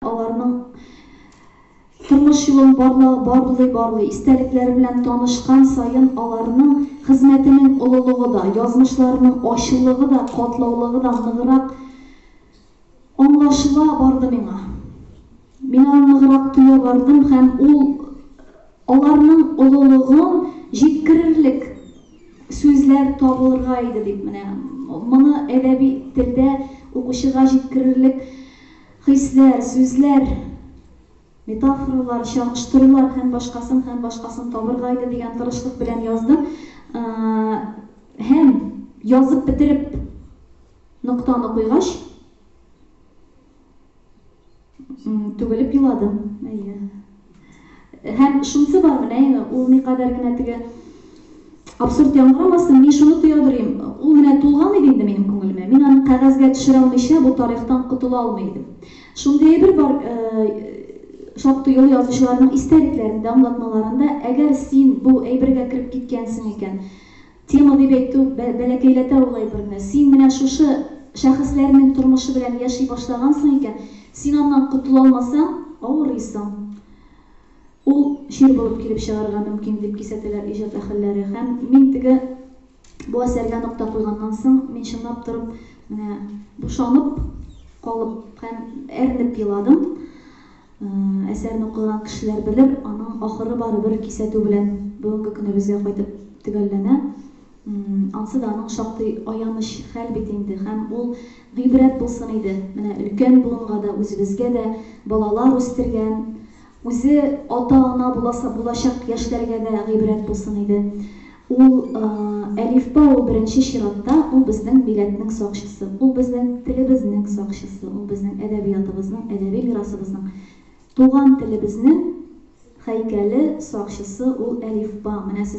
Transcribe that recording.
Аларның тормыш юлын барлый-барлый, истәлекләре белән танышкан саен, аларның хезмәтенең олылыгы да, язмышларының ачылыгы да, катлаулыгы да ныграк аңлашыла барды миңа. Мин аны ныграк тоя бардым һәм ул аларның олылыгын җиткерерлек сүзләр табылырга иде дип, менә моны әдәби телдә укучыга җиткерерлек Хисләр, сүзләр, метафоралар, чагыштырулар һәм башкасын һәм башкасын табырга иде дигән тырышлык белән яздым. Һәм, язып бетереп, ноктаны куйгач, түгелеп еладым. Әйе. Һәм шунысы бар, менә әйе, ул никадәр генә теге абсурд яңгырамасын, мин шуны тоя дөрим, ул менә тулган иде инде минем күңелемә, мин аны кәгазьгә төшерә алмыйча бу тарихтан котыла алмый идем. Шундый әйбер бар, шактый олы язучыларның истәлекләрендә, аңлатмаларында, әгәр син бу әйбергә кереп киткәнсең икән, Тема дип әйтү бәләкәйләтә ул әйберне. Син менә шушы шәхесләрнең тормышы белән яши башлагансың икән, син аннан котыла алмасаң, авырыйсың. Ул чир булып килеп чыгарга мөмкин, дип кисәтәләр иҗат әһелләре. Һәм мин теге бу әсәргә нокта куйганнан соң, мин чынлап торып, менә бушанып калып һәм әрнеп еладым. Әсәрне укыган кешеләр белер, аның ахыры барыбер кисәтү белән бүгенге көнебезгә кайтып төгәлләнә. Ансы да аның шактый аяныч хәл бит инде һәм ул гыйбрәт булсын иде менә өлкән буынга да, үзебезгә дә, балалар үстергән, үзе ата-ана буласы булачак яшьләргә дә гыйбрәт булсын иде. Ул, әлифба, ул беренче чиратта, ул безнең милләтнең сакчысы, ул безнең телебезнең сакчысы, ул безнең әдәбиятыбызның, әдәби мирасыбызның, туган телебезнең һәйкәле сакчысы, ул әлифба. Менә сезнең